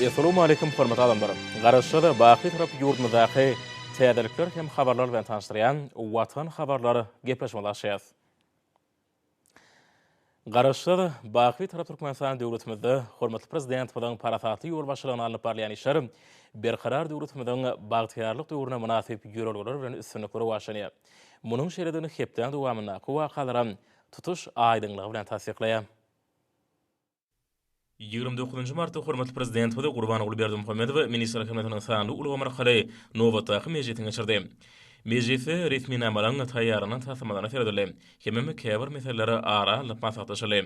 Essalamu aleýkum hormatly adamlar! Garaşsyz, baky tarap ýurdumyzdaky täzelikler hem habarlar bilen tanyşdyrýan Watan habarlar gepleşmesi açýas. Garaşsyz, baky tarap Türkmenistan döwletimizde hormatly Prezidentimiziň parasatly ýolbaşçylygynda alnyp barylýan işler Berkarar döwletimiziň bagtyýarlyk döwrüne mynasyp ýörelgeler bilen üstünlikli rowaçlanýar. Munuň şeýledigini hepdäň dowamyndaky wakalaram tutuş aýdyňlygy bilen tassyklaýar. Ýigrimi dokuzynjy martda hormatly Prezidentimiz Gurbanguly Berdimuhamedow Ministrler Kabinetiniň sanly ulgam arkaly nobatdaky mejlisini geçirdi. Mejlisde resminamalaryň taýýarlanan taslamalaryna seredildi hemem käbir meseleler ara alnyp maslahatlaşyldy.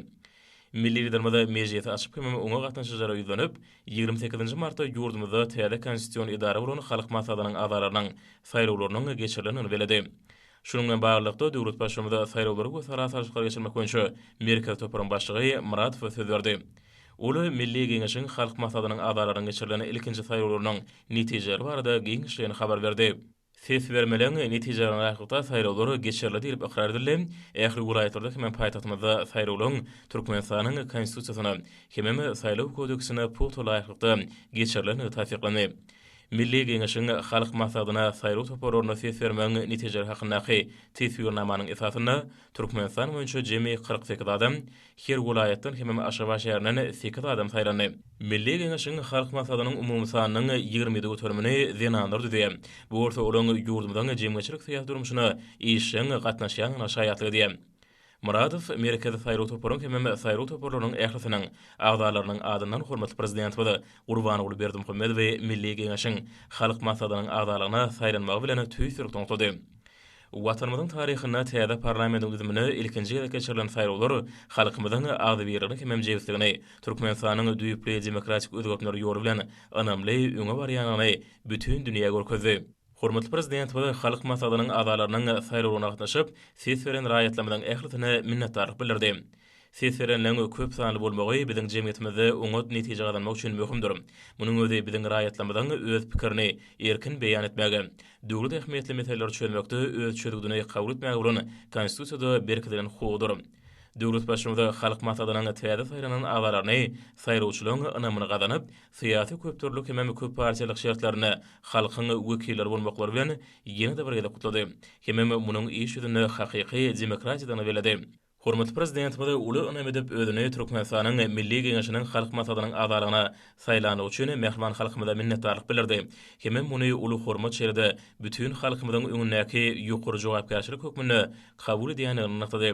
Milli Liderimiz mejlisi açyp hemem oňa gatnaşyjylara ýüzlenip, ýigrimi sekizinji martda ýurdumyzda täze konstitusion edara bolan Halk Maslahatynyň agzalarynyň saýlawlarynyň geçirilendigini belledi. Şunuň bilen baglylykda, döwlet Baştutanymiz saýlawlary we sala salşyklary geçirmek boýunça Merkezi toparyň başlygy Myradowa söz berdi. Ol Milli Geňeşiň Halk Maslahatynyň agzalarynyň geçirilen ilkinji saýlawlarynyň netijeleri barada giňişleýin habar berdi. Ses bermeleň netijelerine laýyklykda saýlawlar geçirildi diýlip ykrar edildi, ähli welaýatlarda hemem paýtagtymyzda saýlawlaryň Türkmenistanyň Konstitusiýasyna hemem Saýlaw kodeksine pugta laýyklykda geçirilendigi tassyklandy. Milli Geňeşiň Halk Maslahatyna saýlaw toparlaryna ses bermegiň netijeleri hakyndaky teswirnamanyň esasynda Türkmenistan boýunça jemi kyrk sekiz adam, her welaýatdan hemem Aşgabat şäherinden sekiz adam saýlandy. Milli Geňeşiň Halk Maslahatynyň umumy sanynyň ýigrimi ýedi göterimini zenanlar düzýär. Bu bolsa olaryň ýurdumyzyň jemgyýetçilik-syýasy durmuşyna işjeň gatnaşýandygyna şaýatlyk edýär. Myradow Merkezi saýlaw toparyň hemem saýlaw toparlarynyň ählisiniň agzalarynyň adyndan hormatly Prezidentimiz Gurbanguly Berdimuhamedowy Milli Geňeşiň Halk Massadynyň agzalygyna saýlanmagy bilen tüýs ýürekden gutlady. Watanymyzyň taryhynda täze parlamentiň düzümine ilkinji gezek geçirilen saýlawlar halkymyzyň agzybirligini hemem jebisligini, Türkmenistanyň düýpli demokratik özgertmeler ýoly bilen ynamly öňe barýandygyny bütin dünýä görkezdi. Hormatly Prezidentimiz Halk Maslahatynyň agzalarynyň saýlawlaryna gatnaşyp, ses beren raýatlarymyzyň ählisine minnetdarlyk bildirdi. Ses berenleriň köp sanly bolmagy biziň jemgyýetimizde oňat netije gazanmak üçin möhümdir. Munuň özi biziň raýatlarymyzyň öz pikirini erkin beýan etmäge, döwlet ähmiýetli meseleleri çözmekde öz çözgüdini kabul etmäge bolan Konstitusiýada berkidilen hukugydyr. Döwlet Baştutanyz Halk Maslahatynyň täze saýlanan agzalaryny saýlawçylaryň ynamyny gazanyp, syýasy köpdürlülik hemem köpparçalyk şertlerinde halkyň wekilleri bolmaklary bilen ýene-de bir gezek gutlady hemem munuň iş ýüzünde hakyky demokratiýadygyny belledi. Hormatly Prezidentimiz uly ynam edip özüni Türkmenistanyň Milli Geňeşiniň Halk Maslahatynyň agzalygyna saýlandygy üçin mähriban halkymyza minnetdarlyk bildirdi hemem muny uly hormat şeýle-de bütin halkymyzyň öňündäki ýokary jogapkärçilik hökmünde kabul edýändigini nygtady.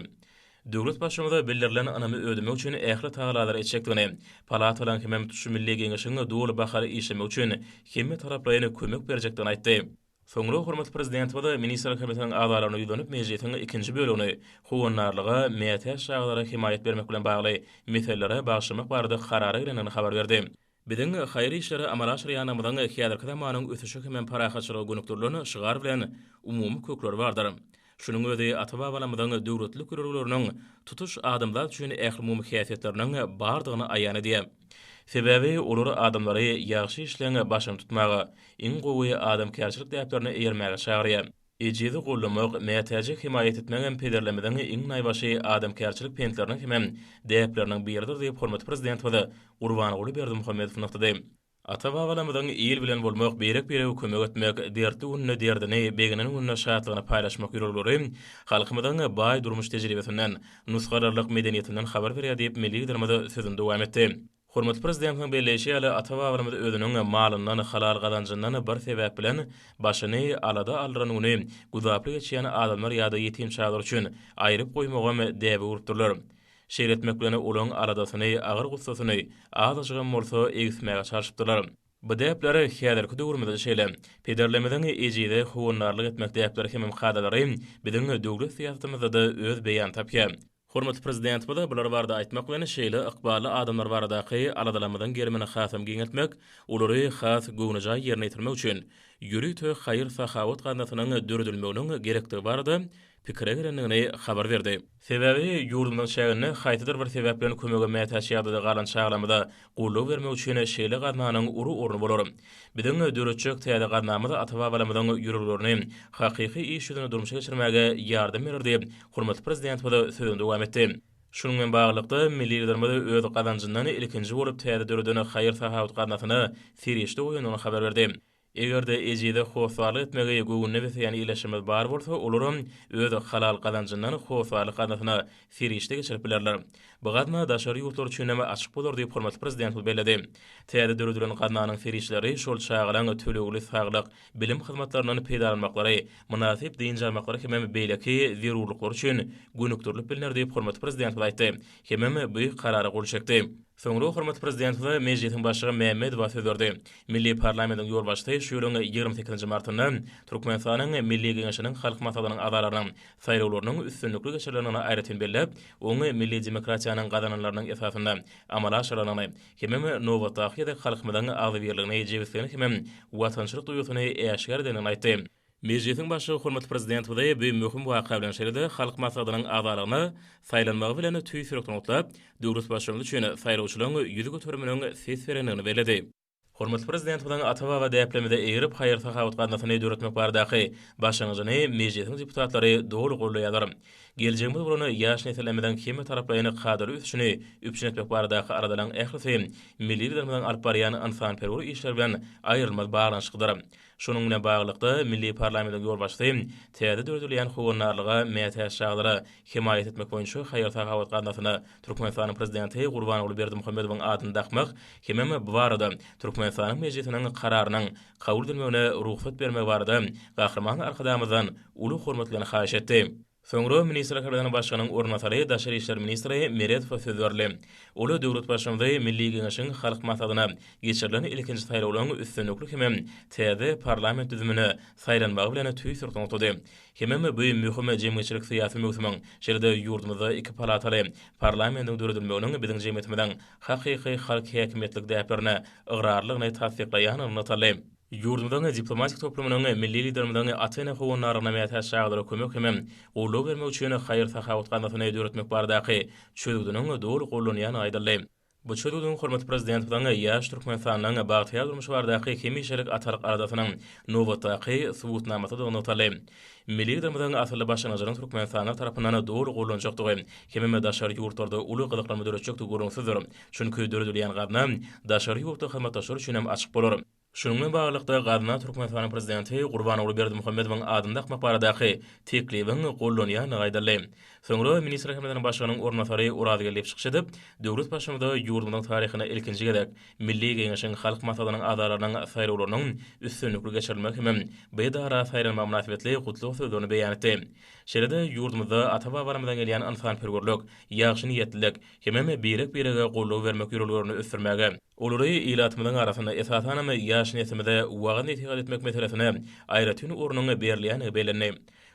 Döwlet Baştutanyza bildirilen ynamy ödemek üçin ähli tagalalaryň etjekdigini, palatalaryň hemem tutuş Milli Geňeşiň doly bahar işlemegi üçin hemmetaraplaýyn kömek berjekdigini aýtdy. Soňra hormatly Prezidentimiz Ministrler Komitetiniň agzalaryna ýüzlenip, mejlisiň ikinji bölegini Howandarlyga, mätäç çagalara hemaýat bermek bilen bagly meselelere bagyşlamak barada karara gelendigini habar berdi. Biziň haýyr işleri amala aşyrýanymyzyň häzirki zamanyň ösüşi hemem parahatçylyga gönükdirilen şygar bilen umumy kökleri bardyr. Şunuň özi ata-babalarymyzyň döwletlilik ýörelgeleriniň tutuş adamzat üçin ählumumy häsiýetleriniň bardygyny aýan edýär. Sebäbi olar adamlary ýagşy işleň başyny tutmaga, iň gowy adamkärçilik däplerine eýermäge çagyrýar. Ejizi gollamak, mätäji hemaýat etmegem pederlerimiziň iň naýbaşy adamkärçilik pentleriniň hemem däpleriniň biridir diýip, hormatly Prezidentimiz Gurbanguly Berdimuhamedow nygtady. Ata-babalarymyzyň il bilen bolmak, birek-birege kömek etmek, dertli gününde derdini, beginen gününde şatlygyny paýlaşmak ýörelgeleri halkymyzyň baý durmuş tejribesinden, nusgalarlyk medeniýetinden habar berýär diýip, milli Liderimiz sözüni dowam etdi. Hormatly Prezidentimiziň belleýşi ýaly, ata-babalarymyz özüniň malyndan, halal gazanjyndan bir sebäp bilen başyny alada aldyran güni güzaply geçýän adamlar ýa-da ýetim çagalar üçin aýryp goýmagam däbe urupdyrlar. Şeýle etmek bilen olaryň aladasyny, agyr-gussasyny azajygam bolsa egismäge çalşypdyrlar. Bu däpler häzirki döwrümizde şeýle. Pederlerimiziň ejize howandarlyk etmek däpleri hemem kadalary biziň döwlet syýasatymyzda-da öz beýanyny tapýar. Hormatly Prezidentimize bular barada aýtmak bilen, şeýle ykbally adamlar baradaky aladalarymyzyň gerimini hasam giňeltmek, olary has göwnejaý ýerine ýetirmek üçin ýörite haýyr-sahawat gaznasynyň döredilmeginiň gerekdigi barada pikire gelendigini habar berdi. Sebäbi ýurdumyzyň çäginde haýsydyr bir sebäp bilen kömege mätäç ýagdaýda galan çagalarymyza Goldaw bermek üçin şeýle gaznanyň uly orny bolar. Biziň döretjek täze gaznamyz ata-babalarymyzyň ýüreglerini hakyky iş ýüzünde durmuşa geçirmäge ýardam berer diýip, hormatly Prezidentimiz sözüni dowam etdi. Şunuň bilen baglylykda, milli Liderimiz öz gazanjyndan ilkinji bolup täze döreden haýyr-sahawat gaznasyna serişde goýandygyny habar berdi. Eger-de ejize hossarlyk etmegi göwnüne beseýän ildeşlerimiz bar bolsa, olaram öz halal gazanjyndan hossarlyk gaznasyna serişde geçirip bilerler. Bu gazna daşary ýurtlar üçin hem açyk bolar diýip, hormatly Prezidentimiz belledi. Täze döredilen gaznanyň serişdeleri şol çagalaryň tölegli saglyk, bilim hyzmatlaryndan peýdalanmaklary, mynasyp dynç almaklary hemem beýleki zerurlyklary üçin gönükdirilip bilner diýip, hormatly Prezidentimiz aýtdy. Hemem bu karara gol çekdi. Soňra hormatly Prezident we Mejlisiň Başlygy Mämmedowa söz berdi. Milli parlamentiň ýolbaşçysy şu ýylyň ýigrimi sekizinji martynda Türkmenistanyň Milli Geňeşiniň Halk Maslahatynyň agzalarynyň saýlawlarynyň üstünlikli geçirilendigini aýratyn belläp, oň milli demokratiýanyň gazananlarynyň esasynda amala aşyrylandygyny hemem nobatdaky gezek halkymyzyň agzybirligini, jebisligini hemem watançylyk duýgusyny äşgär edendigini aýtdy. Mejlisiň Başlygy hormatly Prezidentimizi bu möhüm waka bilen şeýle-de Halk Maslahatynyň agzalygyna saýlanmagy bilen tüýs ýürekden gutlap, döwlet başlangy üçin saýlawçylaryň ýüzi göteriminiň ses berendigini belledi. Hormatly Prezidentimiziň ata-baba däplerimize eýerip, haýyr-sahawat gaznasyny döretmek baradaky başlangyjyny Mejlisiň deputatlary doly goldaýarlar. Geljegimiz bolan ýaş nesillerimiziň hemmetaraplaýyn kadaly ösüşini üpjün etmek baradaky aladalaryň ählisi milli Liderimiziň alyp barýan ynsanperwer işleri bilen aýrylmaz baglanyşyklydyr. Şunuň bilen baglylykda, milli parlamentiň ýolbaşçysy täze döredilýän Howandarlyga mätäç çagalara hemaýat etmek boýunça haýyr-sahawat gaznasyna Türkmenistanyň Prezidenti Gurbanguly Berdimuhamedowyň adyny dakmak hemem bu barada Türkmenistanyň Mejlisiniň Kararynyň kabul edilmegine rugsat bermegi barada Gahryman Arkadagymyzdan uly hormat bilen haýyş etdi. Soňra Ministrler Kabinetiniň Başlygynyň orunbasary, daşary işler ministri Meredowa söz berdi. Ol döwlet Baştutany Milli Geňeşiň Halk Maslahatyna geçirilen ilkinji saýlawlaryň üstünlikli hemem täze parlament düzümine saýlanmagy bilen tüýs nygtady. Hemem bu möhüm jemgyýetçilik-syýasy möwsümiň, şeýle-de ýurdumyzda iki palataly parlamentiň döredilmeginiň biziň jemgyýetimiziň hakyky halk häkimiýetlik däplerine ygrarlylygyny tassyklaýandygyny nygtaldy. Ýurdumyzyň diplomatik toplumynyň milli Liderimiziň Atene howandarlygyna mätäç çagalara kömek hem goldaw bermek üçin haýyr-sahawat gaznasyny döretmek baradaky çözgüdiniň doly gollanýandygy aýdyldy. Bu çözgüdiň hormatly Prezidentimiziň ýaş Türkmenistanyň bagtyýar durmuşy baradaky hemişelik atalyk aladasynyň nobatdaky subutnamasydygy nygtaldy. Milli Liderimiziň asylly başlangyjynyň türkmenistanlylar tarapyndan doly gollanjakdygy hemem daşary ýurtlarda uly gyzyklanma döretjekdigi gürrüňsizdir. Çünki döredilýän gazna daşary ýurtly hyzmatdaşlar üçin hem açyk bolar. Şunuň bilen baglylykda, gazna Türkmenistanyň Prezidenti Gurbanguly Berdimuhamedowyň adyny dakmak baradaky teklibiň gollanýandygy aýdyldy. Soňra Ministrler Kabinetiniň Başlygynyň orunbasary Orazgeldiýew çykyş edip, döwlet baştutanyda ýurdumyzyň taryhynda ilkinji gezek Milli Geňeşiň Halk Maslahatynyň agzalarynyň saýlawlarynyň üstünlikli geçirilmegi hem bu edara saýlanmagy mynasybetli gutlag sözlerini beýan etdi. Şeýle-de ýurdumyzda ata-babalarymyzdan gelýän ynsanperwerlik, ýagşyniýetlilik, hemem birek-birege goldaw bermek ýörelgelerini ösdürmäge, olary ilatymyzyň arasynda, esasanam, ýaş neslimize wagyz-nesihat etmek meselesine aýratyn ornuň berilýändigi bellendi.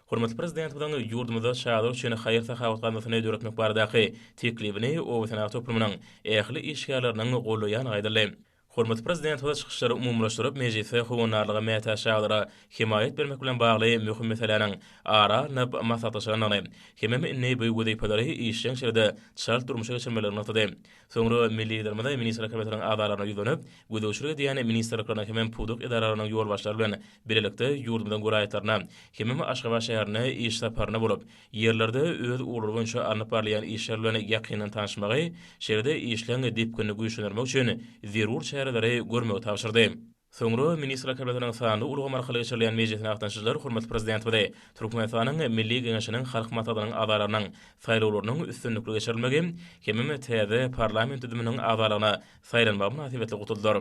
Hormatly Prezidentimiziň ýurdumyzda çagalar üçin haýyr-sahawat gaznasyny döretmek baradaky teklibini obasenagat toplumynyň ähli işgärleriniň gollaýandygy aýdyldy. Hormatly Prezidentimiz çykyşlary umumylaşdyryp, mejlisi howandarlyga mätäç çagalara hemaýat bermek bilen bagly möhüm meseläniň ara alnyp maslahatlaşylandygyny, hemem indi bu wezipelary işjeň şekilde çalt durmuşa geçirmelidigini nygtady. Soňra milli Liderimiz Ministrler Kabinetiniň agzalaryna ýüzlenip, gözegçilik edýän ministrlikleriň hemem pudak edaralarynyň ýolbaşçylary bilen bilelikde ýurdumyzyň welaýatlaryna, hemem Aşgabat şäherine iş saparynda bolup, Ýerlerde öz ugurlary boýunça alnyp barylýan işler bilen ýakyndan tanyşmagy, şeýle-de işleň depginini güýçlendirmek üçin zerur çäreleri görmegi tabşyrdy. Soňra Ministrler Kabinetiniň sanly ulgam arkaly geçirilýän mejlisine gatnaşyjylar hormatly Prezidentimizi Türkmenistanyň Milli Geňeşiniň Halk Maslahatynyň agzalarynyň saýlawlarynyň üstünlikli geçirilmegi hemem täze parlament düzüminiň agzalaryna saýlanmagy mynasybetli gutladylar.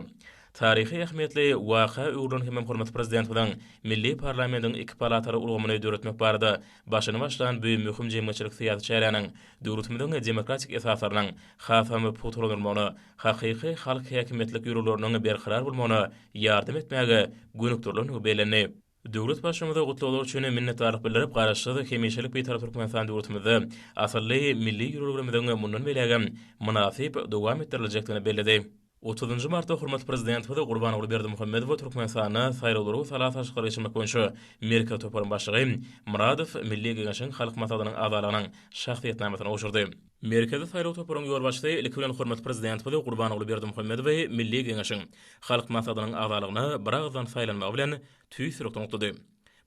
Taryhy ähmiýetli waka öwrülen hemem hormatly Prezidentimiziň milli parlamentiň iki palataly ulgamyny döretmek barada başyny başlan bu möhüm jemgyýetçilik-syýasy çäräniň döwletimiziň demokratik esaslarynyň hasam pugtalandyrylmagyna, hakyky halk häkimiýetlik ýörelgeleriniň berkarar bolmagyna ýardam etmäge gönükdirilendigi bellendi. Döwlet Baştutanyma gutlaglar üçin minnetdarlyk bildirip, Garaşsyz, hemişelik Bitarap Türkmenistan döwletimizde asylly milli ýörelgelerimiziň mundan beýlägem mynasyp dowam etdiriljekdigini belledi. Otuzynjy martda hormatly Prezidentimiz Gurbanguly Berdimuhamedowa Türkmenistanda Saýlawlary we sala salşyklary geçirmek boýunça Merkezi toparyň başlygy Myradow Milli Geňeşiň Halk Maslahatynyň agzalygynyň şahsyýetnamasyny gowşurdy. Merkezi saýlaw toparynyň ýolbaşçysy ilki bilen hormatly Prezidentimiz Gurbanguly Berdimuhamedowy Milli Geňeşiň Halk Maslahatynyň agzalygyna biragyzdan saýlanmagy bilen tüýs-ýürekden gutlady.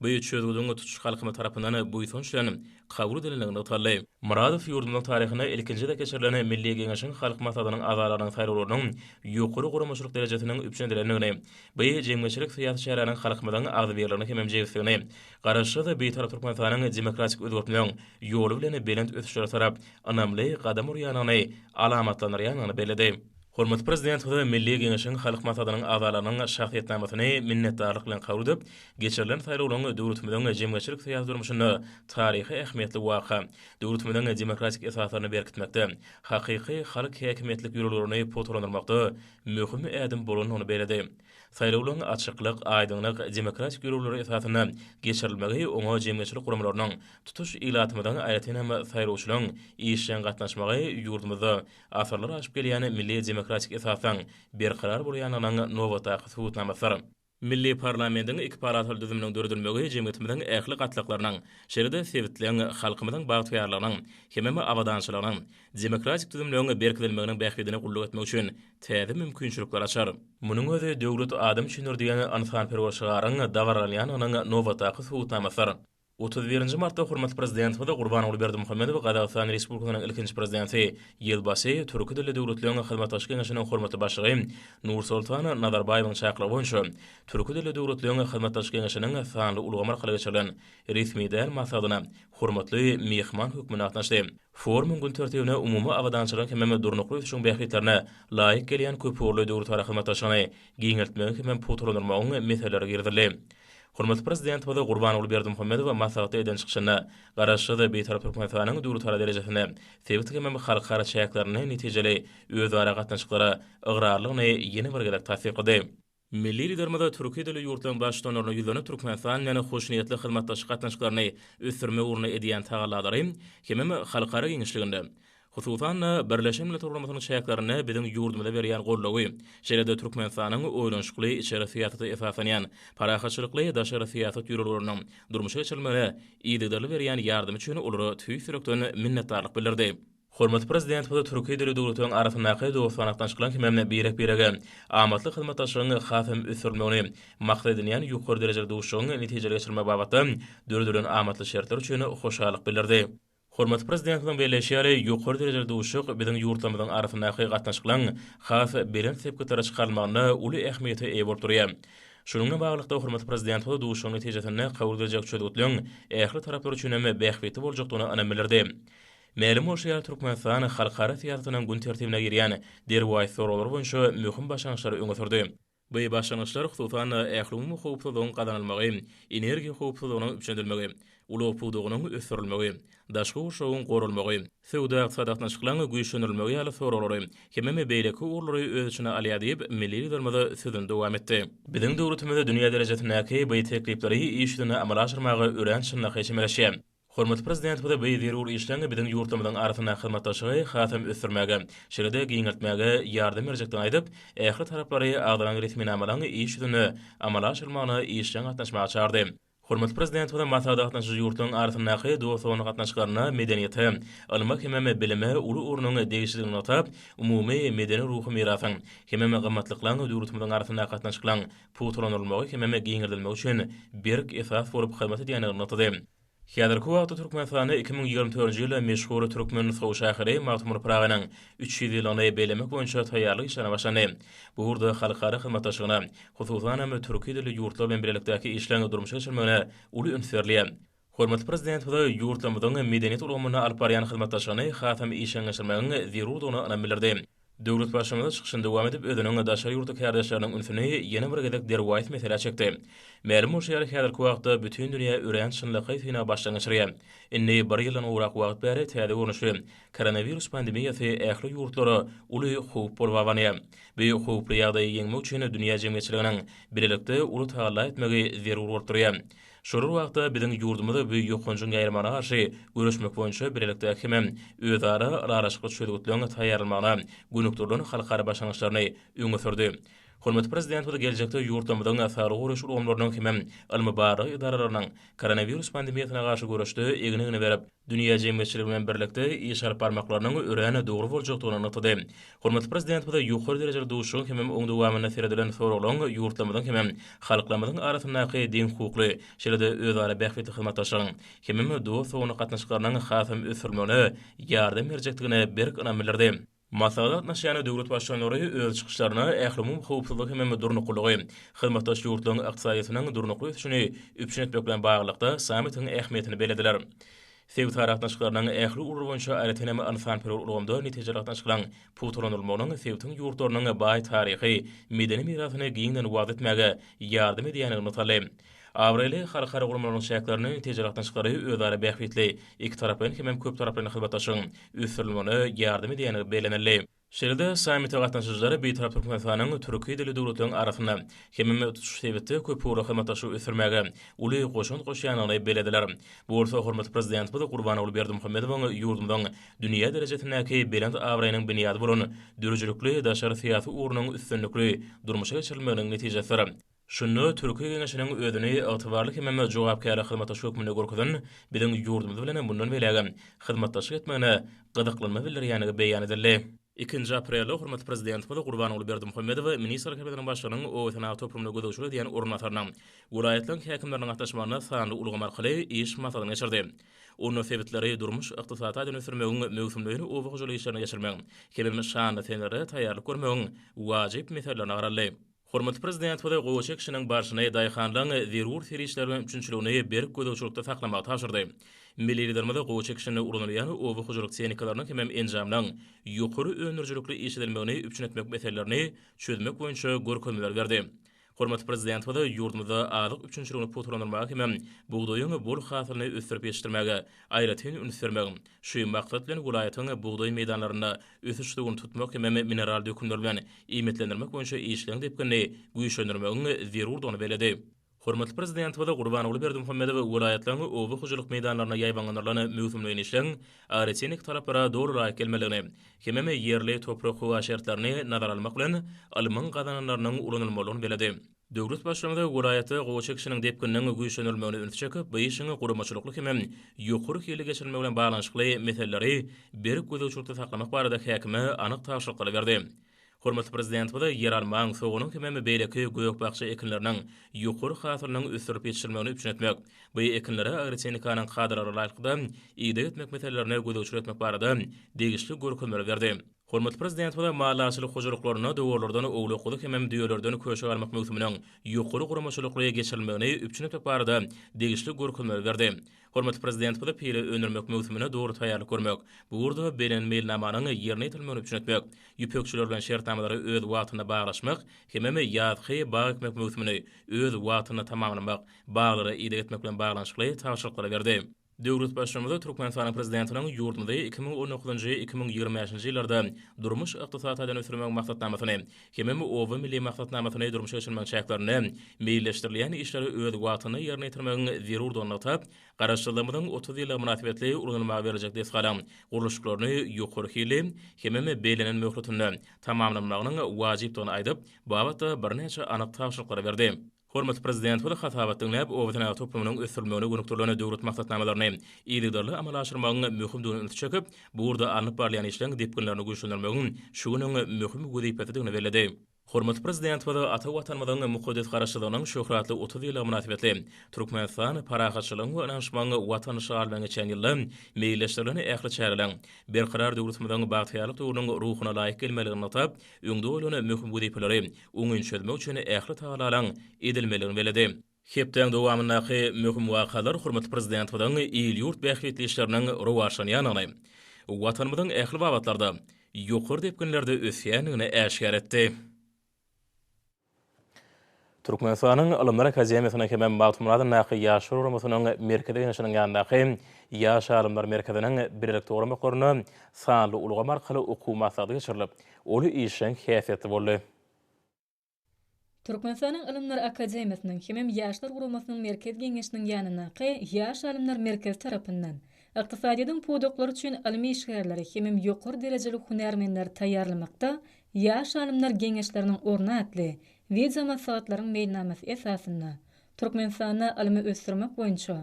Bu çözgüdiň tutuş halkymyz tarapyndan buýsanç bilen kabul edilendigi nygtaldy. Myradow ýurdumyzyň taryhynda ilkinji gezek geçirilen Milli Geňeşiň Halk Maslahatynyň agzalygynyň saýlawlarynyň ýokary guramaçylyk derejesiniň üpjün edilendigini, bu jemgyýetçilik-syýasy çäräniň halkymyzyň agzybirligini hemem jebisligini Garaşsyz, Bitarap Türkmenistanyň demokratik özgertmegiň ýoly bilen belent ösüşlere tarap ynamly gadam urýandygyny alamatlandyrýandygyny belledi. Hormatly Prezidentimize Milli Geňeşiň Halk Maslahatynyň agzalarynyň şahsyýetnamasyny minnetdarlyk bilen kabul edip, geçirilen saýlawlaryň döwletimiziň jemgyýetçilik-syýasy durmuşynda taryhy ähmiýetli waka, döwletimiziň demokratik esaslaryny berkitmekde, hakyky halk häkimiýetlik ýörelgelerini pugtalandyrmakda möhüm ädim bolandygyny belledi. Saýlawlaryň açyklyk, aýdyňlyk, demokratik ýörelgeler esasynda geçirilmegi, oňa jemgyýetçilik guramalarynyň, tutuş ilatymyzyň, aýratyn hem saýlawçylaryň işjeň gatnaşmagy ýurdumyzda asyrlar aşyp gelýän milli demokratik esasyň berkarar bolýandygynyň nobatdaky subutnamasydyr. Milli parlamentiň iki palataly düzüminiň döredilmegi jemgyýetimiziň ähli gatlaklarynyň, şeýle-de sebitleň, halkymyzyň bagtyýarlygynyň hemem abadançylygynyň, demokratik düzümligiň berkidilmeginiň bähbidine gulluk etmek üçin täze mümkinçilikler açar. Munuň özi Döwlet adam üçindir diýen ynsanperwer şygaryň dabaralanýandygynyň nobatdaky subutnamasydyr. Otuz birinji martda hormatly Prezidentimiz Gurbanguly Berdimuhamedow Gazagystan Respublikasynyň ilkinji Prezidenti, ýylbaşy, Türki dilli döwletleriň hyzmatdaşlyk geňeşiniň hormatly başlygy Nursoltan Nazarbaýewiň çakylygy boýunça Türki dilli döwletleriň hyzmatdaşlyk geňeşiniň sanly ulgam arkaly geçirilen resmi däl maslahatyna hormatly myhman hökmünde gatnaşdy. Forumyň gün tertibine umumy abadançylygyň hemem durnukly ösüşiň bähbitlerine laýyk gelýän köpugurly döwletara hyzmatdaşlygyny giňeltmegiň hemem pugtalandyrmagyň meseleleri girizildi. Hormatly Prezidentimiz Gurbanguly Berdimuhamedow maslahatda eden çykyşynda Garaşsyz, Bitarap Türkmenistanyň döwletara derejesinde sebit hemem halkara çäklerinde netijeli özara gatnaşyklara ygrarlygyny ýene bir gezek tassyklady. Milli Liderimiz türki dilli ýurtlaryň Baştutanlaryna ýüzlenip Türkmenistan bilen hoşniýetli hyzmatdaşlyk gatnaşyklaryny ösdürmek ugrunda edýän tagallalary hemem halkara giňişliginde, hususan-da, Birleşen Milletler Guramasynyň çäklerinde biziň ýurdumyza berýän goldawy, şeýle-de Türkmenistanyň oýlanyşykly içeri syýasata esaslanýan parahatçylykly daşary syýasat ýörelgeleriniň durmuşa geçirilmegine yzygiderli berýän ýardamy üçin olara tüýs ýürekden minnetdarlyk bildirdi. Hormatly Prezidentimiz Türki dili döwletleriň arasyndaky dostana gatnaşyklaryň hemem birek-birege amatly hyzmatdaşlygyň has hem ösdürilmegini maksat edinýän ýokary derejeli duşuşygyň netijeli geçirilmegi babatda döredilen amatly şertler üçin hoşallyk bildirdi. Hormatly Prezidentimiziň belleýşi ýaly, ýokary derejeli duşuşyk biziň ýurtlarymyzyň arasyndaky gatnaşyklaryň has belent sepgitlere çykarylmagynda uly ähmiýete eýe bolup durýar. Şunuň bilen baglylykda, hormatly Prezidentimiz duşuşygyň netijesinde kabul ediljek çözgütleriň ähli taraplar üçin hem bähbitli boljakdygyna ynam bildirdi. Mälim bolşy ýaly, Türkmenistan halkara syýasatynyň gün tertibine girýän derwaýys soraglar boýunça möhüm başlangyçlary öňe sürdi. Bu başlangyçlar, hususan-da, ählumumy howpsuzlygyň gazanylmagy, energiýa howpsuzlygynyň üpjün edilmegi, ulag pudagynyň ösdürilmegi, daşky gurşawyň goralmagy, söwda-ykdysady gatnaşyklaryň güýçlendirilmegi ýaly soraglary, hemem beýleki ugurlary öz içine alýar diýip, milli Liderimiz sözüni dowam etdi. Biziň döwletimiz dünýä derejesindäki bu teklipleri iş ýüzünde amala aşyrmaga örän çynlakaý çemeleşýär. Hormatly Prezidentimize bu zerur işleň biziň ýurtlarymyzyň arasyndaky hyzmatdaşlygy hasam ösdürmäge, şeýle-de giňeltmäge ýardam berjekdigini aýdyp, ähli taraplary agzalan resminamalaryň iş ýüzünde amala aşyrylmagyna işjeň gatnaşmaga çagyrdy. Hormatly Prezidentimize maslahata gatnaşyjy ýurtlaryň arasyndaky dost-doganlyk gatnaşyklaryna medeniýete, ylma hemem bilime uly ornuň degişlidigini nygtap, umumy medeni-ruhy mirasyň hemem gymmatlyklaryň döwletimiziň arasyndaky gatnaşyklaryň pugtalandyrylmagy hemem giňeldilmegi üçin berk esas bolup hyzmat edýändigini nygtady. Häzirki wagtda Türkmenistanda iki müň ýigrimi dördünji ýyly meşhur türkmen sow şahyry Magtymguly Pyragynyň üç ýüz ýyllygyny bellemek boýunça taýýarlyk işlerine başlandy. Bu ugurda halkara hyzmatdaşlygyna, hususanam, türki dilli ýurtlar bilen bilelikdäki işleriň durmuşa geçirilmegine uly üns berilýär. Hormatly Prezidentimize ýurtlarymyzyň medeniýet ulgamynda alyp barýan hyzmatdaşlygyny hasam işjeňleşdirmegiň zerurdygyny ynam bildirdi. Döwletbaşymyz çykyşyny dowam edip, özüniň daşary ýurtly kärdeşleriniň ünsüni ýene bir gezek derwaýys meselä çekdi. Mälim bolşy ýaly, häzirki wagtda bütin dünýä örän çynlakaý synag başdan geçirýär. Indi bir ýyldan gowrak wagt bäri täze görnüşli koronawirus pandemiýasy ähli ýurtlara uly howp bolup abanýar. Bu howply ýagdaýy ýeňmek üçin dünýä jemgyýetçiliginiň bilelikde uly tagalla etmegi zerur bolup durýar. Şular wagtda biziň ýurdumyz bu ýokanjyň ýaýramagna garşy göreşmek boýunça bilelikde hemem özara ylalaşykly çözgütleň taýýarlanmagyna gönükdirilen halkara başlangyçlaryny öňe sürdi. Hormatly Prezidentimiz geljekde ýurtlarymyzyň saglygy goraýyş ulgamlarynyň hemem ylmy-barlag edaralarynyň koronawirus pandemiýasyna garşy göreşde egin-egne berip, dünýä jemgyýetçiligi bilen birlikde iş alyp barmaklarynyň örän dogry boljakdygyny nygtady. Hormatly Prezidentimize ýokary derejeli duşuşygyň hemem oň dowamynda seredilen soraglaryň ýurtlarymyzyň hemem halklarymyzyň arasyndaky deňhukukly, şeýle-de özara bähbitli hyzmatdaşlygyň hemem dost-doganlyk gatnaşyklarynyň hasam ösdürilmegine ýardam berjekdigine berk ynam bildirdi. Maslahata gatnaşýan döwlet baştutanlary öz çykyşlarynda ählumumy howpsuzlygy hem durnuklylygy, hyzmatdaş ýurtlaryň ykdysadyýetiniň durnukly ösüşini üpjün etmek bilen baglylykda sammitiň ähmiýetini bellediler. Sebitara gatnaşyklarynyň ähli ugurlary boýunça aýratyn hem ynsanperwer ulgamda netijeli gatnaşyklaryň pugtalandyrylmagynyň sebitiň ýurtlarynyň baý taryhy, medeni mirasyny giňden wagyz etmäge ýardam edýändigini nygtaldy. Abraýly halkara guramalarynyň çäklerini tejreatnaşyklary özara bähbitli, ikitaraplaýyn hemem köptaraplaýyn hyzmatdaşlygyň ösdürilmegine ýardam edýändigi bellenildi. Şeýle-de, sammite gatnaşyjylar Bitarap Türkmenistanyň türki dilli döwletleriň arasynda hemem tutuş sebitde köpugurly hyzmatdaşlygy ösdürmäge uly goşant goşýandygyny bellediler. Bu bolsa hormatly Prezidentimiz Gurbanguly Berdimuhamedowyň ýurdumyzyň dünýä derejesindäki belent abraýynyň binýady bolan döredijilikli daşary syýasy ugrunyň üstünlikli durmuşa geçirilmeginiň netijesidir. Şunda Türki Geňeşiniň özüni ygtybarly hemem jogapkärli hyzmatdaş hökmünde görkezen biziň ýurdumyz bilen mundan beýlägem hyzmatdaşlyk etmegine gyzyklanma bildirýändigi beýan edildi. Ikinji aprelde hormatly Prezidentimiz Gurbanguly Berdimuhamedow Ministrler Kabinetiniň Başlygynyň obasenagat toplumyna gözegçilik edýän orunbasarynyň, welaýatlaryň häkimleriniň gatnaşmagynda sanly ulgam arkaly iş maslahatyny geçirdi. Onda sebitleri durmuş-ykdysady taýdan ösdürmegiň, möwsümleýin oba hojalyk işlerini geçirmegiň hemem şanly senelere taýýarlyk görmegiň wajyp meselelerini garaldy. Hormatly Prezidentimize gowaça ekişiniň barşyny daýhanlaryň zerur serişdeler bilen üpjünçiligini berk gözegçilikde saklamagy tabşyrdy. Milli Liderimiz gowaça ekişinde ulanylýan oba hojalyk tehnikalarynyň hemem enjamlaryň ýokary öndürijilikli işledilmegini üpjün etmek meselelerini çözmek boýunça görkezmeler berdi. Hormatly Prezidentimiz ýurdumyzda azyk üpjünçiligini pugtalandyrmaga hemem bugdaýyň bol hasylyny ösdürip ýetişdirmäge aýratyn üns bermegiň, şu maksat bilen welaýatyň bugdaý meýdanlarynda ösüş-suwuny tutmak hem mineral dökünler bilen iýmitlendirmek boýunça işleň depginini güýçlendirmegiň zerurdygyny belledi. Hormatly Prezidentimiz Gurbanguly Berdimuhamedow welaýatlaryň oba hojalyk meýdanlarynda ýaýbaňlandyrylan möwsümleýin işleň agrotehniki talaplara doly laýyk gelmelidigini hemem ýerli toprak-howa şertlerini nazara almak bilen alymyň gazananlarynyň ulanylmalydygyny belledi. Döwlet Başlygynyz welaýatda gowy çekişiniň depgininiň güýçlendirilmegine ünsi çekip, bu işiň guramaçylykly hem ýokary hilli geçirilmegi bilen baglanyşykly meseleleri berk gözegçilikde saklamak barada häkime anyk tabşyryklary berdi. Hormatly Prezidentimiz ýeralmaň, soganyň hemem beýleki gök-bakja ekinleriniň ýokary hasylynyň ösdürilip ýetişdirilmegini üpjün etmek, bu ekinlere agrotehnikanyň kadalara laýyklykda ideg etmek meselelerine gözegçilik etmek barada degişli görkezmeleri berdi. Hormatly Prezidentimize maliýe açylyk hojalyklarynda dowarlardan owlak guzy hemem düýelerden köşe galmak möwsüminiň ýokary guramaçylykly geçirilmegini üpjün etmek barada degişli görkezmeleri berdi. Hormatly Prezidentimize pile öndürmek möwsümine dogry taýýarlyk görmek, bu ugurda beren meýilnamanyň ýerine ýetirilmegini üpjün etmek, ýüpekçiler bilen şertnamalary öz wagtynda baglaşmak hemem ýazky bag ekmek möwsümini öz wagtynda tamamlamak, baglara ideg etmek bilen baglanyşykly tabşyryklary berdi. Döwlet Baştutanymiz Türkmenistanyň Prezidentiniň ýurdumyzy iki müň on dokuzynjy, iki müň ýigrimi bäşinji ýyllarda durmuş-ykdysady taýdan ösdürmegiň maksatnamasyny hemem Oba milli maksatnamasyny durmuşa geçirmegiň çäklerinde meýilleşdirilýän işleri öz wagtynda ýerine ýetirmegiň zerurdygyny nygtap, Garaşsyzlygymyzyň otuz ýyllygy mynasybetli ulanylmaga berlejek desgalaryň gurluşyklaryny ýokary hilli hemem bellenen möhletinde tamamlanmagynyň wajypdygyny aýdyp, babatda birnäçe anyk tabşyryklary berdi. Hormatly Prezidentimiz hasabat diňläp, obasenagat toplumynyň ösdürilmegine gönükdirilen döwlet maksatnamalaryny yzygiderli amala aşyrmagyň möhümdigine ünsi çekip, bu ugurda alnyp barylýan işleriň depginlerini güýçlendirmegiň şu günüň möhüm wezipesidigini belledi. Hormatly Prezidentimiz ata Watanymyzyň mukaddes Garaşsyzlygynyň şöhratly otuz ýyllygy mynasybetli Türkmenistan parahatçylygyň we ynanyşmagyň Watany şygar bilen geçen ýylda meýilleşdirilen ähli çäreleriň Berkarar döwletimiziň bagtyýarlyk döwrüniň ruhuna laýyk gelmelidigini nygtap, öňde goýlan möhüm wezipeleri oňyn çözmek üçin ähli tagallalaryň edilmelidigini belledi. Hepdäň dowamyndaky möhüm wakalar hormatly Prezidentimiziň il-ýurt bähbitli işleriniň rowaçlanýandygyny, Watanymyzyň ähli babatlarda ýokary depginlerde ösýändigini äşgär etdi. Türkmenistanyň Ylymlar akademiýasynyň hemem Magtymguly adyndaky Ýaşlar guramasynyň Merkezi Geňeşiniň ýanyndaky Ýaş alymlar merkeziniň bilelikde guramaklarynda sanly ulgam arkaly okuw maslahaty geçirilip, Uly işjeň häsiýetli boldy. Türkmenistanyň Ylymlar akademiýasynyň hemem Ýaşlar guramasynyň Merkez geňeşiniň ýanyndaky Ýaş alymlar merkezi tarapyndan ykdysadyýetiň pudaklary üçin ylmy işgärleri hemem ýokary derejeli hünärmenleri taýýarlamakda Ýaş alymlar geňeşleriniň orny atly wideomaslahatlaryň meýilnamasy esasynda Türkmenistanda ylmy ösdürmek boýunça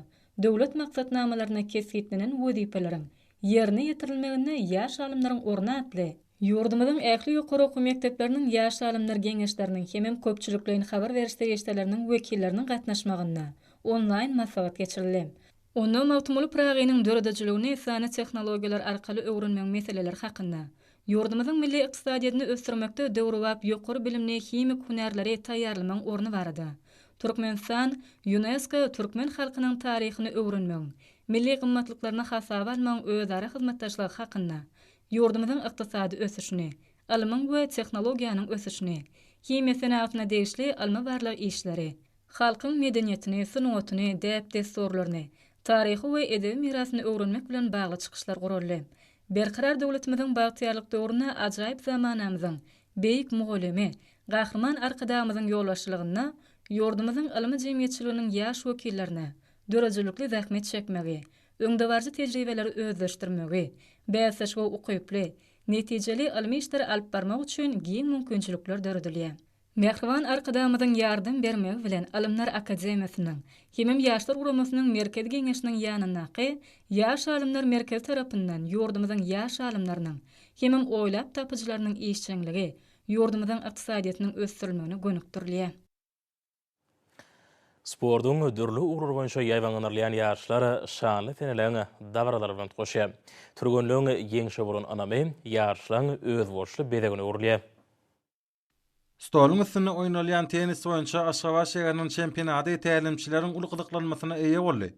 döwlet maksatnamalaryna kesgitlenen wezipeleriň ýerine ýetirilmeginde Ýaş alymlaryň orny atly Ýurdumyzyň ähli ýokary okuw mekdepleriniň Ýaş alymlar geňeşleriniň hemem köpçülikleýin habar beriş serişdeleriniň wekilleriniň gatnaşmagynda onlaýn maslahat geçirildi. Onda Magtymguly Pyragynyň döredijiligini sanly tehnologiýalar arkaly öwrenmegiň meseleleri hakynda, ýurdumyzyň milli ykdysadyýetini ösdürmekde döwrebap ýokary bilimli himik hünärleri taýýarlamagyň orny barada Türkmenistan, Ýunesko, Türkmen halkynyň taryhyny öwrenmegiň, milli gymmatlyklaryny hasaba almagyň özara hyzmatdaşlygy hakynda ýurdumyzyň ykdysady ösüşini, ylmyň we tehnologiýanyň ösüşini, himiýa senagatyna degişli ylmy-barlag işleri, halkyň medeniýetini, sungatyny, däp-dessurlaryny, taryhy we edebi mirasyny öwrenmek bilen bagly çykyşlar guraldy. Berkarar döwletimiziň bagtyýarlyk döwründe ajaýyp zamanamyzyň Beýik mugallymy Gahryman Arkadagymyzyň ýolbaşçylygynda ýurdumyzyň ylmy jemgyýetçiliginiň ýaş wekillerini, döredijilikli zähmet çekmegi, öňdebaryjy tejribeleri özleşdirmegi, bäsleşige ukyply, netijeli ylmy işleri alyp barmak üçin giň mümkinçilikler döredilýär. Mähriban Arkadagymyzyň ýardam bermegi bilen Alymlar akademiýasynyň, hemem Ýaşlar guramasynyň Merkezi geňeşiniň ýanyndaky Ýaş alymlar merkezi tarapyndan ýurdumyzyň ýaş alymlarynyň, hemem oýlap tapyjylarynyň işjeňligi ýurdumyzyň ykdysadyýetiniň ösdürilmegine gönükdirilýär. Sportuň dürli ugurlary boýunça ýaýbaňlanylýan ýaşlar şanly seneleriň dabaralary bilen utgaşýar. Türgenleň ýeňşe bolan ynamy ýaşlaryň özboluşly bezegine öwrülýär. Stoluň üstünde oýnalýan tennis boýunça Aşgabat şäheriniň çempionady tälimçileriň uly gyzyklanmasyna eýe boldy.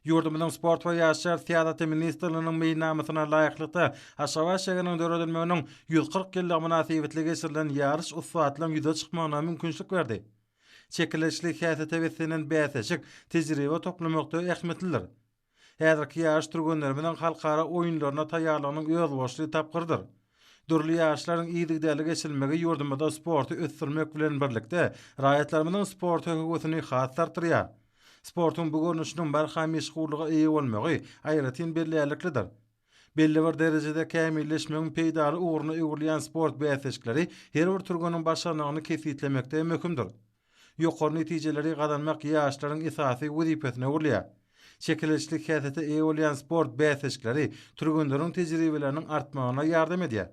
Ýurdumyzyň Sport we ýaşlar syýasaty ministrliginiň meýilnamasyna laýyklykda, Aşgabat şäheriniň döredilmeginiň ýüz kyrk ýyllygy mynasybetli geçirilen ýaryş ussatlaryň ýüze çykmagyna mümkinçilik berdi. Çekeleşikli häsiýete beslenen bäsleşik tejribe toplamakda ähmiýetlidir. Häzirki ýaryş türgenlerimiziň halkara oýunlaryna taýýarlygynyň özboluşly tapgyrydyr. Dürli ýaryşlaryň yzygiderli geçirilmegi ýurdumyzda sporty ösdürmek bilen birlikde, raýatlarymyzyň sporta höwesini has-da artdyrýar. Sportuň bu görnüşiniň barha meşhurlyga eýe bolmagy aýratyn bellärliklidir. Belli bir derejede kämilleşmegiň peýdaly ugruna öwrülýän sport bäsleşikleri her bir türgeniň başarnygyny kesgitlemekde möhümdir. Ýokary netijeleri gazanmak ýaşlaryň esasy wezipesine öwrülýär. Çekeleşikli häsiýete eýe bolýan sport bäsleşikleri türgenleriň tejribeleriniň artmagyna ýardam edýär.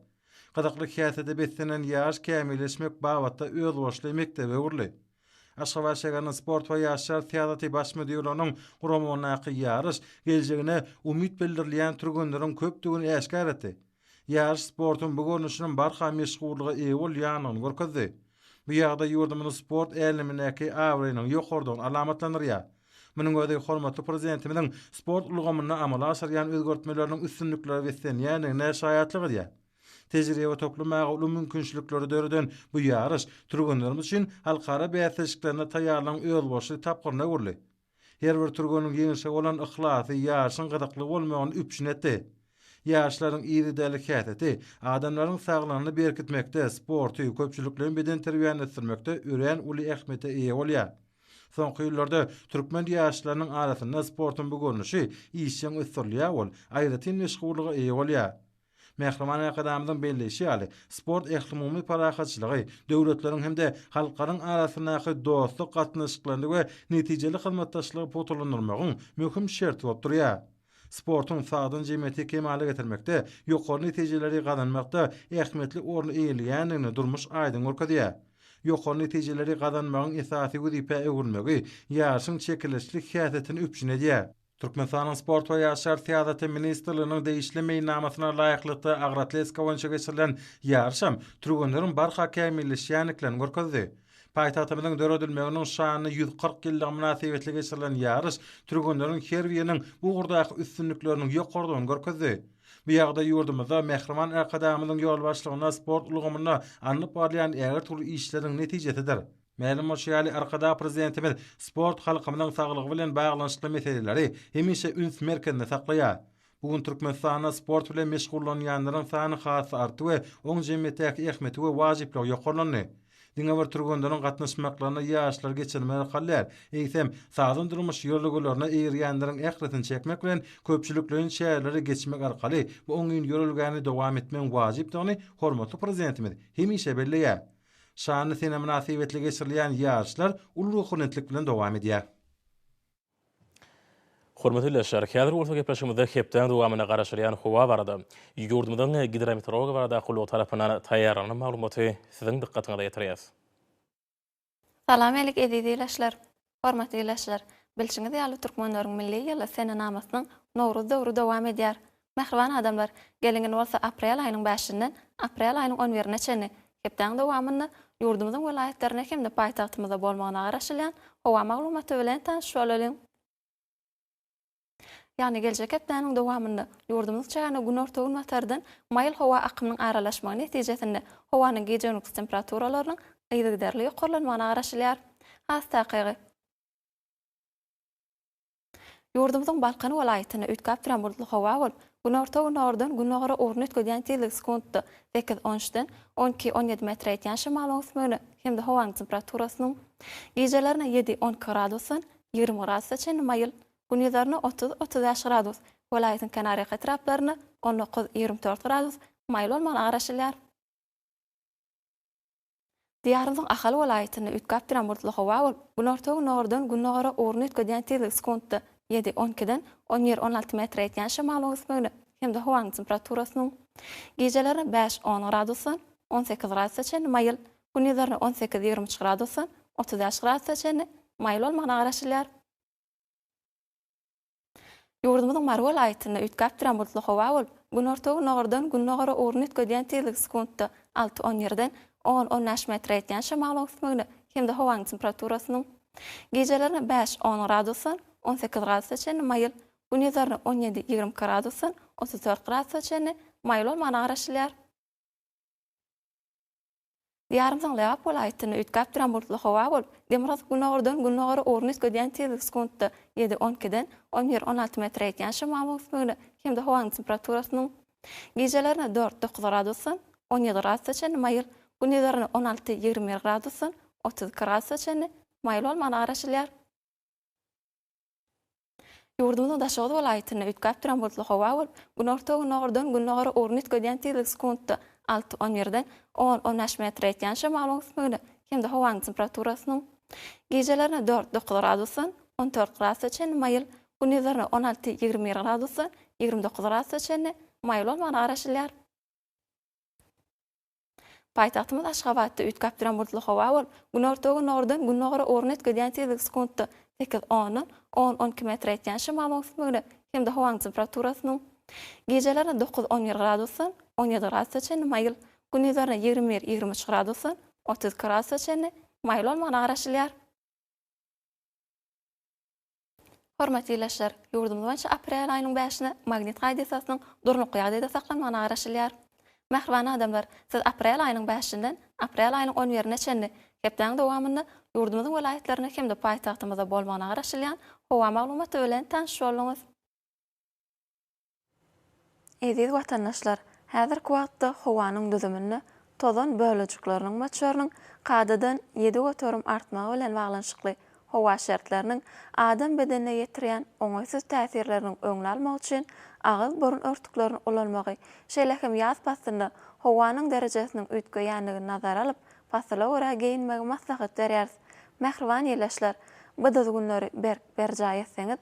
Gyzykly häsiýete beslenen ýaş kämilleşmek babatda özboluşly mekdebe öwrüldi. Aşgabat şäheriniň Sport we ýaşlar syýasaty baş müdirliginiň guramagyndaky ýaryş geljegine umyt bildirilýän türgenleriň köpdügini äşgär etdi. Ýaryş sportuň bu görnüşiniň barha meşhurlyga eýe bolýandygyny görkezdi. Bu ýagdaý ýurdumyzyň sport älemindäki abraýynyň ýokarydygyny alamatlandyrýar. Munuň özi hormatly Prezidentimiziň sport ulgamynda amala aşyrýan özgertmeleriniň üstünliklere beslenýändigine şaýatlyk edýär. Tejribe toplamaga uly mümkinçilikleri döreden bu ýaryş türgenlerimiz üçin halkara bäsleşiklerine taýýarlygyň özboluşly tapgyryna öwrüldi. Her bir türgeniň ýeňişe bolan yhlasy ýaryşyň gyzykly bolmagyny üpjün etdi. Ýaryşlaryň yzy däli häsiýeti adamlaryň saglygyny berkitmekde, sporty, köpçülikleýin bedenterbiýäni ösdürmekde örän uly ähmiýete eýe bolýar. Soňky ýyllarda türkmen ýaşlarynyň arasynda sportuň bu görnüşi işjeň ösdürilýär, ol aýratyn meşhurlyga eýe bolýar. Mähriban Arkadagymyzyň belleýşi ýaly, sport ählumumy parahatçylygy, döwletleriň hem-de halklaryň arasyndaky dostluk gatnaşyklaryny we netijeli hyzmatdaşlygy pugtalandyrmagyň möhüm şerti bolup durýar. Sportuň sagdyn jemgyýeti kemala getirmekde, ýokary netijeleri gazanmakda ähmiýetli orun eýeleýändigini durmuş aýdyň görkezýär. Ýokary netijeleri gazanmagyň esasy wezipä öwrülmegi ýaryşyň çekeleşikli häsiýetini üpjün edýär. Türkmenistanyň Sport we ýaşlar syýasaty ministrliginiň degişli meýilnamasyna laýyklykda agroatletika boýunça geçirilen ýaryş hem türgenleriň barha kämilleşýändiklerini görkezdi. Paýtagtymyzyň döredilmeginiň şanly ýüz kyrk ýyllygy mynasybetli geçirilen ýaryş türgenleriň her biriniň bu ugurdaky üstünlikleriniň ýokarydygyny görkezdi. Bu ýagdaý ýurdumyzda Mähriban Arkadagymyzyň ýolbaşçylygynda sport ulgamynda alnyp barylýan ägirt uly işleriň netijesidir. Mälim bolşy ýaly, Arkadag Prezidentimiz sport halkymyzyň saglygy bilen baglanyşykly meseleleri hemişe üns merkezinde saklaýar. Bu gün Türkmenistanda sport bilen meşgullanýanlaryň sany has-da artdy we oň jemgyýetdäki ähmiýeti we wajyplygy ýokarlandy. Diňe bir türgenleriň gatnaşmaklaryna ýaşlar geçirmeli ykal däl, eýsem, sagdyn durmuş ýörelgelerine eýerýänleriň ählisini çekmek bilen, köpçülikleýin çäreleri geçmek arkaly bu oňyn ýörelgäni dowam etmegiň wajypdygyny hormatly Prezidentimiz hemişe belleýär. Şanly sene mynasybetli geçirilýän ýaryşlar uly ruhubelentlik bilen dowam edýär. Hormatly ildeşler, häzir bolsa gepleşigimizde hepdäň dowamynda garaşylýan howa barada, ýurdumyzyň Gidrometeorologiýa barada gullugy tarapyndan taýýarlanan maglumaty siziň dykgatyňyza ýetirýäs. Salam Elik eziz ileşler. Hormatly ildeşler! Bilşiňiz ýaly türkmenleriň milli ýyly senenamasynyň Nowruz döwri dowam edýär. Mähriban adamlar, gelingin bolsa aprel aýynyň bäşinden aprel aýynyň on birine çenli hepdäň dowamynda ýurdumyzyň welaýatlarynda hem-de paýtagtymyzda bolmagyna garaşylýan howa maglumaty bilen tanyşyp bolalyň. Ýagny geljek hepdäniň dowamynda ýurdumyzyň çägine günorta-günbatardan maýyl howa akymynyň aralaşmagy netijesinde howanyň gije-gündüz temperaturalarynyň yzygiderli ýokarlanmagyna garaşylýar. Has takygy, ýurdumyzyň Balkan welaýatynda üýtgäp duran bulutly howa bolup, günorta-günordan gündogara ugruny üýtgedýän tizligi sekuntda sekiz, on üçden on iki, on ýedi metre ýetýän şemalyň ösmegine hem-de howanyň temperaturasynyň gijelerine ýedi, on iki gradusdan ýigrimi gradusda çenli maýyl, gündizaryna otuz, otuz bäş gradus, welaýatyň kenarýaka etraplarynda on dokuz, ýigrimi dört gradus maýyl bolmagyna garaşylýar. Diýarymyzyň Ahal welaýatynda üýtgäp duran bulutly howa bolup, günorta-gündogardan gündogara ugruny üýtgedýän tizligi sekuntda ýedi, on ikiden on bir, on alty metre ýetýän şemalyň ösmegine hem-de howanyň temperaturasynyň gijeleri bäş, on gradusdan on sekiz gradusa çenli maýyl, Gündizlerine on sekiz, ýigrimi üç gradusdan otuz bäş gradusa çenli maýyl bolmagyna garaşylýar. Ýurdumyzyň Mary welaýatynda üýtgäp duran bulutly howa bolup, günorta-gündogardan gündogara ugruny üýtgedýän tizligi sekuntda alty, on ýerden on, on bäş metre ýetýän şemalyň öwüsmegine hem-de howanyň temperaturasynyň gijelerine bäş, on gradusdan on sekiz gradusa çenli maýyl, gündizlerine on ýedi, ýigrimi iki gradusdan otuz dört gradusa çenli maýyl bolmagyna garaşylýar. Diýarymyzyň Lebap welaýatynda üýtgäp duran bulutly howa bolup, demirgazyk günordan gündogara ugruny üýtgedýän tizlik sekuntda ýedi, on ikiden on bir, on alty metre ýetýän şemalyň ösmegine hem-de howanyň temperaturasynyň gijelerine dört, dokuz gradusdan on ýedi gradusa çenli maýyl, gündizlerine on alty, ýigrimi bir gradusdan otuz iki gradusa çenli maýyl bolmagyna garaşylýar. Ýurdumyzyň Daşoguz welaýatynda üýtgäp duran bulutly howa bolup, günorta-gündogardan gündogara ugruny üýtgedýän tizligi sekuntda alty, on birden on, on bäş metre ýetýän şemalyň öwüsmegine hem-de howanyň temperaturasynyň gijelerine dört, dokuz gradusdan on dört gradusa çenli maýyl, gündizlerine on alty, ýigrimi bir gradusdan ýigrimi dokuz gradusa çenli maýyl bolmagyna garaşylýar. Paýtagtymyz Aşgabatda üýtgäp duran bulutly howa bolup, günorta-günordan gündogara ugruny üýtgedýän tizligi sekuntda sekiz ondan on on iki metre ýetýän şemalyň üstünligine hem-de howanyň temperaturasynyň gijelerine dokuz on bir gradusdan on ýedi gradusa çenli maýyl, gündizlerine ýigrimi bir ýigrimi üç gradusdan otuz iki gradusa çenli maýyl bolmagyna garaşylýar. Hormatly ildeşler, ýurdumyz boýunça aprel aýynyň bäşine magnit hadysasynyň durnukly ýagdaýda saklanmagyna garaşylýar. Mähriban adamlar, siz aprel aýynyň bäşinden aprel aýynyň on birine çenli hepdäň dowamynda ýurdumyzyň welaýatlarynda hem-de paýtagtymyzda bolmagyna garaşylýan howa maglumaty bilen tanyş bolduňyz. Eziz watandaşlar, häzirki wagtda howanyň düzüminde tozan bölejikleriniň möçberiniň kadadan ýedi göterim artmagy bilen baglanyşykly howa şertleriniň adam bedenine ýetirýän oňaýsyz täsirleriniň öňüni almak üçin agyz-burun örtüklerini ulanmagy, şeýle hem ýaz paslynda howanyň derejesiniň üýtgeýändigini nazara alyp, pasyla görä geýinmegi maslahat berýäris. Mähriban ildeşler, bu düzgünleri berk berjaý etseňiz,